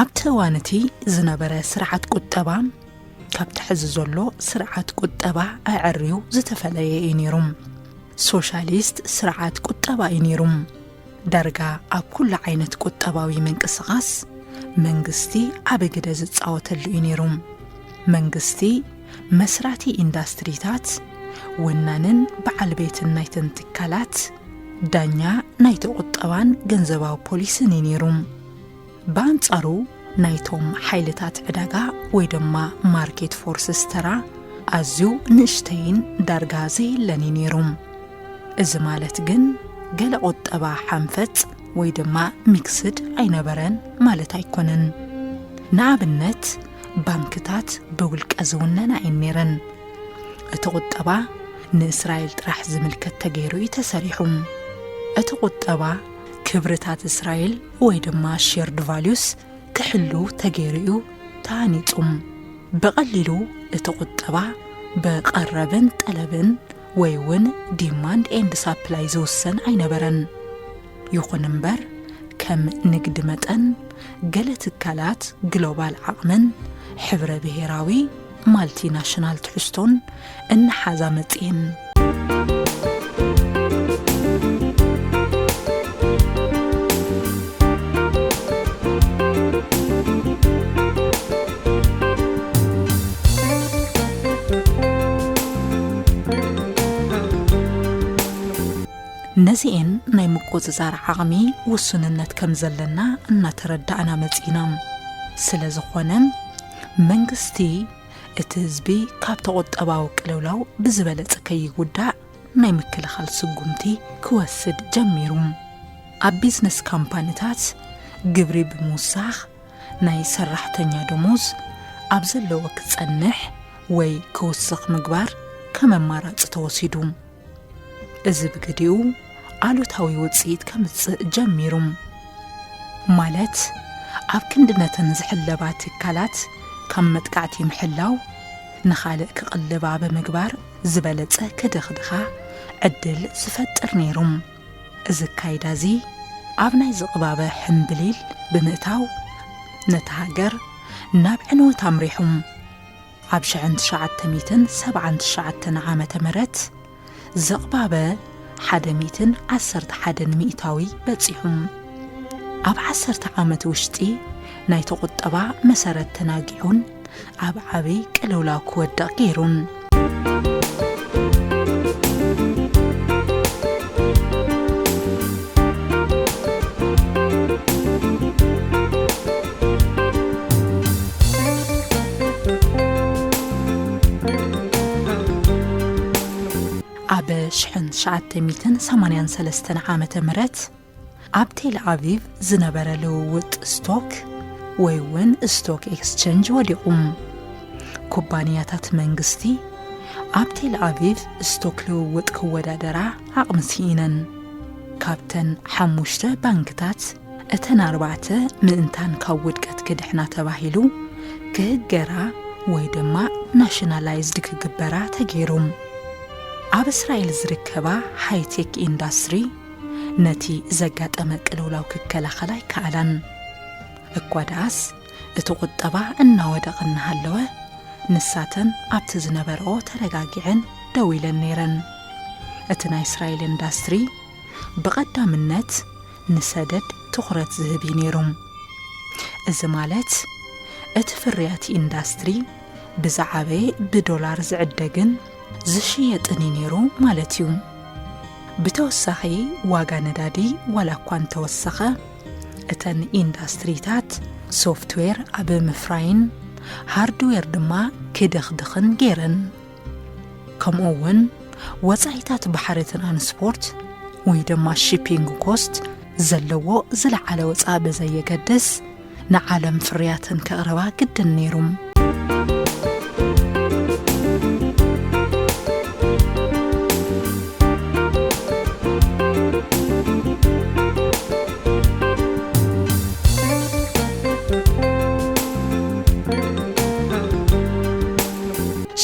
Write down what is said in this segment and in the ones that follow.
ኣብቲ እዋን እቲ ዝነበረ ስርዓት ቁጠባ ካብቲ ሕዚ ዘሎ ስርዓት ቁጠባ ኣዐርዩ ዝተፈለየ እዩ ነይሩ ሶሻሊስት ስርዓት ቁጠባ እዩ ነይሩ ዳርጋ ኣብ ኩሉ ዓይነት ቁጠባዊ ምንቅስቓስ መንግስቲ ዓቢ ግደ ዝጻወተሉ እዩ ነይሩ። መንግስቲ መስራቲ ኢንዳስትሪታት፣ ወናንን በዓል ቤትን ናይተን ትካላት፣ ዳኛ ናይቲ ቁጠባን ገንዘባዊ ፖሊስን እዩ ነይሩ። ብኣንጻሩ ናይቶም ሓይልታት ዕዳጋ ወይ ድማ ማርኬት ፎርስስ ተራ ኣዝዩ ንእሽተይን ዳርጋ ዘየለን እዩ ነይሩ። እዚ ማለት ግን ገለ ቁጠባ ሓንፈጽ ወይ ድማ ሚክስድ ኣይነበረን ማለት ኣይኮነን። ንኣብነት ባንክታት ብውልቀ ዝውነና እየን ነይረን። እቲ ቁጠባ ንእስራኤል ጥራሕ ዝምልከት ተገይሩ እዩ ተሰሪሑ። እቲ ቁጠባ ክብርታት እስራኤል ወይ ድማ ሼርድ ቫልዩስ ክሕሉ ተገይሩ እዩ ተሃኒጹ። ብቐሊሉ እቲ ቁጠባ ብቐረብን ጠለብን ወይ እውን ዲማንድ ኤንድ ሳፕላይ ዝውሰን ኣይነበረን። ይኹን እምበር ከም ንግዲ መጠን ገለ ትካላት ግሎባል ዓቕምን ሕብረ ብሄራዊ ማልቲ ናሽናል ትሕዝቶን እናሓዛ መፅኤን ነዚኤን ናይ ምቁፅፃር ዓቕሚ ውሱንነት ከም ዘለና እናተረዳእና መፂና ስለ ዝኾነ መንግስቲ እቲ ህዝቢ ካብቲ ቁጠባዊ ቅልውላው ብዝበለፀ ከይጉዳእ ናይ ምክልኻል ስጉምቲ ክወስድ ጀሚሩ። ኣብ ቢዝነስ ካምፓኒታት ግብሪ ብምውሳኽ ናይ ሰራሕተኛ ደሞዝ ኣብ ዘለዎ ክፀንሕ ወይ ክውስኽ ምግባር ከም ኣማራፂ ተወሲዱ። እዚ ብግዲኡ ኣሉታዊ ውጽኢት ከምጽእ ጀሚሩ ማለት ኣብ ክንዲ ነተን ዝሕለባ ትካላት ካብ መጥቃዕቲ ምሕላው ንኻልእ ክቕልባ ብምግባር ዝበለጸ ክድኽድኻ ዕድል ዝፈጥር ነይሩ እዚ ኣካይዳ እዚ ኣብ ናይ ዝቕባበ ሕምብሊል ብምእታው ነታ ሃገር ናብ ዕንወት ኣምሪሑ ኣብ ሽሕን ትሽዓተ ሚእትን ሰብዓን ትሽዓተን ዓመተ ምህረት ዝቕባበ ሓደ ሚእትን ዓሰርተ ሓደን ሚእታዊ በጺሑ። ኣብ ዓሰርተ ዓመት ውሽጢ ናይቲ ቁጠባ መሰረት ተናጊዑን ኣብ ዓቢ ቅልውላው ክወድቕ ገይሩን። ኣብ ሽሕን ትሽዓተ ሚእትን ሰማንያን ሰለስተን ዓመተ ምህረት ኣብ ቴል ኣቪቭ ዝነበረ ልውውጥ ስቶክ ወይ እውን ስቶክ ኤክስቸንጅ ወዲቑ ኩባንያታት መንግስቲ ኣብ ቴል ኣቪቭ ስቶክ ልውውጥ ክወዳደራ ዓቕሚ ስኢነን ካብተን ሓሙሽተ ባንክታት እተን ኣርባዕተ ምእንታን ካብ ውድቀት ክድሕና ተባሂሉ ክህገራ ወይ ድማ ናሽናላይዝድ ክግበራ ተገይሩ። ኣብ እስራኤል ዝርከባ ሃይቴክ ኢንዳስትሪ ነቲ ዘጋጠመ ቅልውላው ክከላኸላ ኣይከኣላን። እኳ ደኣስ እቲ ቁጠባ እናወደቐ እናሃለወ ንሳተን ኣብቲ ዝነበረኦ ተረጋጊዐን ደው ኢለን ነይረን። እቲ ናይ እስራኤል ኢንዳስትሪ ብቐዳምነት ንሰደድ ትኹረት ዝህብ እዩ ነይሩ። እዚ ማለት እቲ ፍርያት ኢንዳስትሪ ብዝዓበየ ብዶላር ዝዕደግን ዝሽየጥን እዩ ነይሩ ማለት እዩ። ብተወሳኺ ዋጋ ነዳዲ ዋላ እኳ እንተወሰኸ እተን ኢንዳስትሪታት ሶፍትዌር ኣብ ምፍራይን ሃርድዌር ድማ ክድኽድኽን ገይረን። ከምኡ እውን ወፃኢታት ባሕሪ ትራንስፖርት ወይ ድማ ሺፒንግ ኮስት ዘለዎ ዝለዓለ ወፃኢ ብዘየገድስ ንዓለም ፍርያትን ከቕርባ ግድን ነይሩም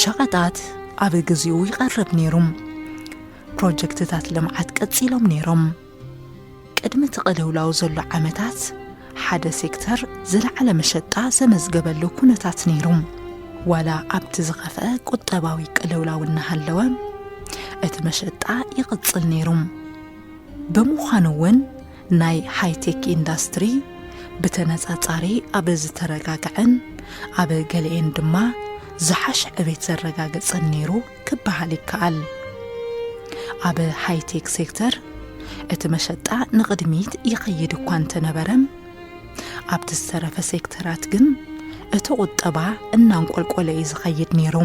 ሸቐጣት ኣብ ግዜኡ ይቐርብ ነይሩ። ፕሮጀክትታት ልምዓት ቀጺሎም ነይሮም። ቅድሚ እቲ ቅልውላው ዘሎ ዓመታት ሓደ ሴክተር ዝለዓለ መሸጣ ዘመዝገበሉ ኩነታት ነይሩ። ዋላ ኣብቲ ዝኸፍአ ቁጠባዊ ቅልውላው እናሃለወ እቲ መሸጣ ይቕጽል ነይሩ። ብምዃኑ እውን ናይ ሃይቴክ ኢንዳስትሪ ብተነጻጻሪ ኣብ ዝተረጋግዐን ኣብ ገሊኤን ድማ ዝሓሸ ዕቤት ዘረጋግጸን ነይሩ ክበሃል ይከኣል። ኣብ ሃይቴክ ሴክተር እቲ መሸጣ ንቕድሚት ይኸይድ እኳ እንተነበረም ኣብቲ ዝተረፈ ሴክተራት ግን እቲ ቁጠባ እናንቆልቆለ እዩ ዝኸይድ ነይሩ።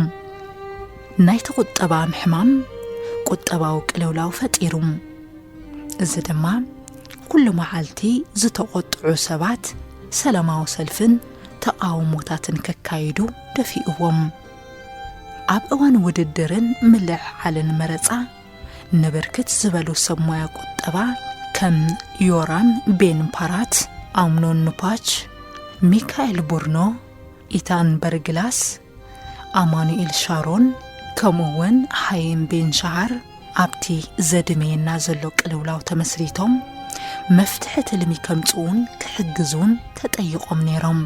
ናይቲ ቁጠባ ምሕማም ቁጠባዊ ቅልውላው ፈጢሩ። እዚ ድማ ኩሉ መዓልቲ ዝተቖጥዑ ሰባት ሰላማዊ ሰልፍን ተቓውሞታትን ከካይዱ ደፊእዎም። ኣብ እዋን ውድድርን ምልዕዓልን መረፃ ንብርክት ዝበሉ ሰብ ሞያ ቁጠባ ከም ዮራም ቤን ፓራት፣ ኣምኖን ኑፓች፣ ሚካኤል ቡርኖ፣ ኢታን በርግላስ፣ ኣማኑኤል ሻሮን ከምኡ እውን ሃይም ቤን ሻሃር ኣብቲ ዘድመየና ዘሎ ቅልውላው ተመስሪቶም መፍትሒ ትልሚ ከምፅኡን ክሕግዙን ተጠይቖም ነይሮም።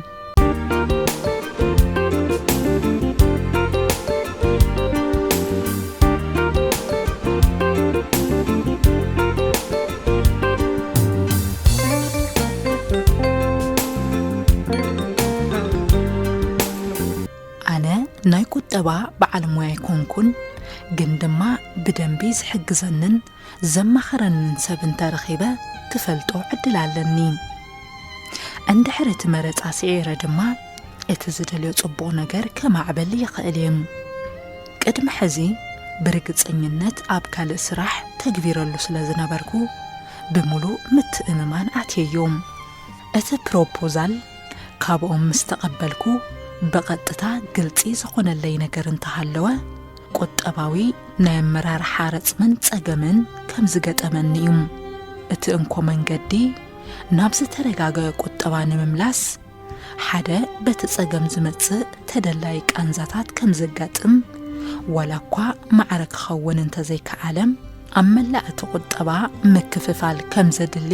ኣነ ናይ ቁጠባ በዓል ሞያ ኣይኮንኩን፣ ግን ድማ ብደንቢ ዝሕግዘንን ዘማኽረንን ሰብ እንተ ረኺበ ክፈልጦ ዕድል ኣለኒ። እንድሕር እቲ መረጻ ስዒረ ድማ እቲ ዝደልዮ ጽቡቕ ነገር ከማዕብል ይኽእል እየ። ቅድሚ ሕዚ ብርግጸኝነት ኣብ ካልእ ስራሕ ተግቢረሉ ስለ ዝነበርኩ ብምሉእ ምትእምማን ኣትየዮ። እቲ ፕሮፖዛል ካብኦም ምስ ተቐበልኩ ብቐጥታ ግልጺ ዝኾነለይ ነገር እንተሃለወ ቁጠባዊ ናይ ኣመራርሓ ረጽምን ጸገምን ከም ዝገጠመኒ እዩ። እቲ እንኮ መንገዲ ናብ ዝተረጋገ ቁጠባ ንምምላስ ሓደ በቲ ጸገም ዝመጽእ ተደላይ ቃንዛታት ከም ዘጋጥም ዋላ እኳ ማዕረ ክኸውን እንተዘይከኣለ ኣብ መላእ እቲ ቁጠባ ምክፍፋል ከም ዘድሊ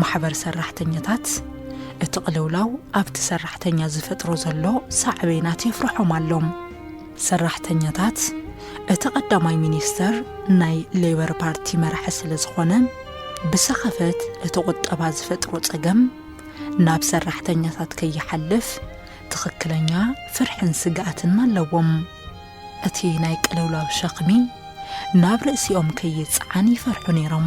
ማሕበር ሰራሕተኛታት እቲ ቅልውላው ኣብቲ ሰራሕተኛ ዝፈጥሮ ዘሎ ሳዕቤናት የፍርሖም ኣሎም። ሰራሕተኛታት እቲ ቀዳማይ ሚኒስተር ናይ ሌበር ፓርቲ መራሒ ስለ ዝኾነ ብሰኸፈት እቲ ቁጠባ ዝፈጥሮ ጸገም ናብ ሰራሕተኛታት ከይሓልፍ ትኽክለኛ ፍርሕን ስግኣትን ኣለዎም። እቲ ናይ ቅልውላው ሸኽሚ ናብ ርእሲኦም ከይጸዓን ይፈርሑ ነይሮም።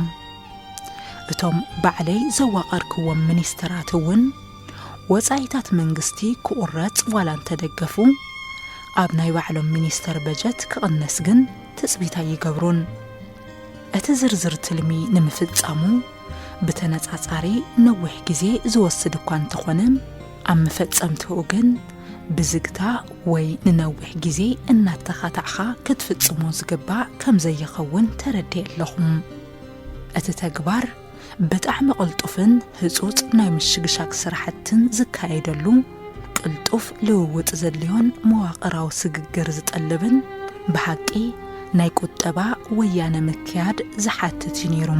እቶም ባዕለይ ዘዋቐርክዎም ሚኒስተራት እውን ወጻኢታት መንግስቲ ክቑረጽ ዋላ እንተደገፉ፣ ኣብ ናይ ባዕሎም ሚኒስተር በጀት ክቕነስ ግን ትጽቢት ኣይገብሩን። እቲ ዝርዝር ትልሚ ንምፍጻሙ ብተነጻጻሪ ነዊሕ ግዜ ዝወስድ እኳ እንተኾነ፣ ኣብ መፈጸምትኡ ግን ብዝግታ ወይ ንነዊሕ ግዜ እናተኻታዕኻ ክትፍጽሞ ዝግባእ ከምዘይኸውን ተረዲኤ ኣለኹ። እቲ ተግባር ብጣዕሚ ቅልጡፍን ህፁፅ ናይ ምሽግሻግ ስራሕትን ዝካየደሉ፣ ቅልጡፍ ልውውጥ ዘድልዮን መዋቕራዊ ስግግር ዝጠልብን ብሓቂ ናይ ቁጠባ ወያነ ምክያድ ዝሓትት እዩ ነይሩ።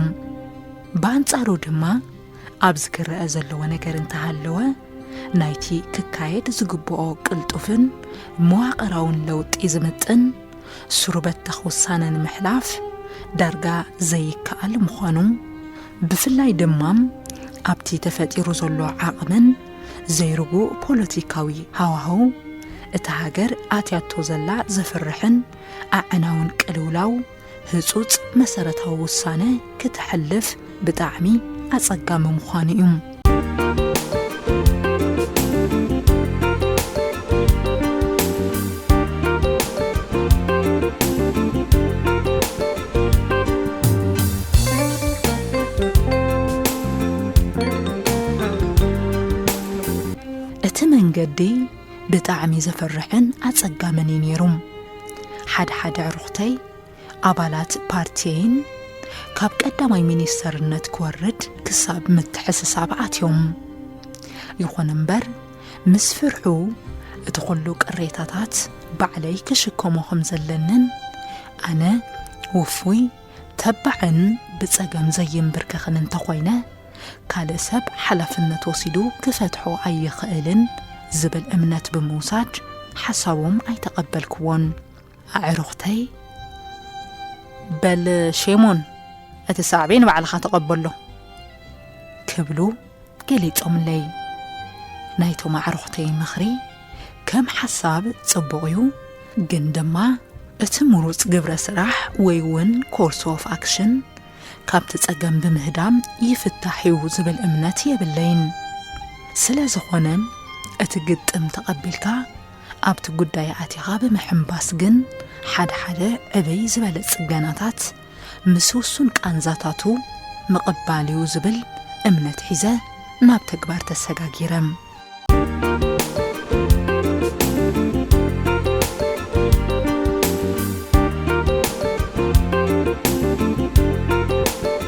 ብኣንፃሩ ድማ ኣብዚ ክረኣ ዘለዎ ነገር እንተሃለወ ናይቲ ክካየድ ዝግበኦ ቅልጡፍን መዋቕራውን ለውጢ ዝምጥን ሱሩ በተኽ ውሳነ ንምሕላፍ ዳርጋ ዘይከኣል ምዃኑ ብፍላይ ድማ ኣብቲ ተፈጢሩ ዘሎ ዓቕምን ዘይርጉእ ፖለቲካዊ ሃዋህው እታ ሃገር ኣትያቶ ዘላ ዘፍርሕን ኣዕናውን ቅልውላው ህጹጽ መሰረታዊ ውሳነ ክተሕልፍ ብጣዕሚ ኣጸጋሚ ምዃኑ እዩ። እቲ መንገዲ ብጣዕሚ ዘፍርሕን ኣጸጋምን እዩ ነይሩ። ሓድሓደ ኣዕሩኽተይ፣ ኣባላት ፓርቲየይን ካብ ቀዳማይ ሚኒስተርነት ክወርድ ክሳብ ምትሕስሳብ ኣትዮም። ይኹን እምበር ምስ ፍርሑ እቲ ኩሉ ቅሬታታት ባዕለይ ክሽከሞ ከም ዘለንን ኣነ ውፉይ ተባዕን ብጸገም ዘይምብርከኽን እንተኾይነ ካልእ ሰብ ሓላፍነት ወሲዱ ክፈትሖ ኣይኽእልን ዝብል እምነት ብምውሳድ ሓሳቦም ኣይተቐበልክዎን። ኣዕሩኽተይ በል ሼሞን እቲ ሳዕቤን ባዕልኻ ተቐበሎ ክብሉ ገሊጾምለይ ናይቶም ኣዕሩኽተይ ምኽሪ ከም ሓሳብ ጽቡቕ እዩ ግን ድማ እቲ ምሩጽ ግብረ ስራሕ ወይ እውን ኮርስ ኦፍ ኣክሽን ካብቲ ጸገም ብምህዳም ይፍታሕ እዩ ዝብል እምነት የብለይን ስለ ዝኾነ እቲ ግጥም ተቐቢልካ ኣብቲ ጉዳይ ኣቲኻ ብምሕምባስ ግን ሓደ ሓደ ዕብይ ዝበለ ጽገናታት ምስ ውሱን ቃንዛታቱ ምቕባል እዩ ዝብል እምነት ሒዘ ናብ ተግባር ተሰጋጊረ።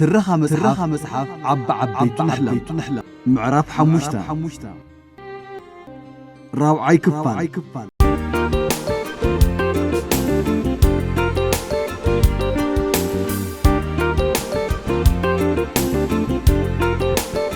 ትረኻ መጽሓፍ ዓቢ ዓበይቲ ንሕለም ምዕራፍ ሓሙሽተ ራብዓይ ክፋል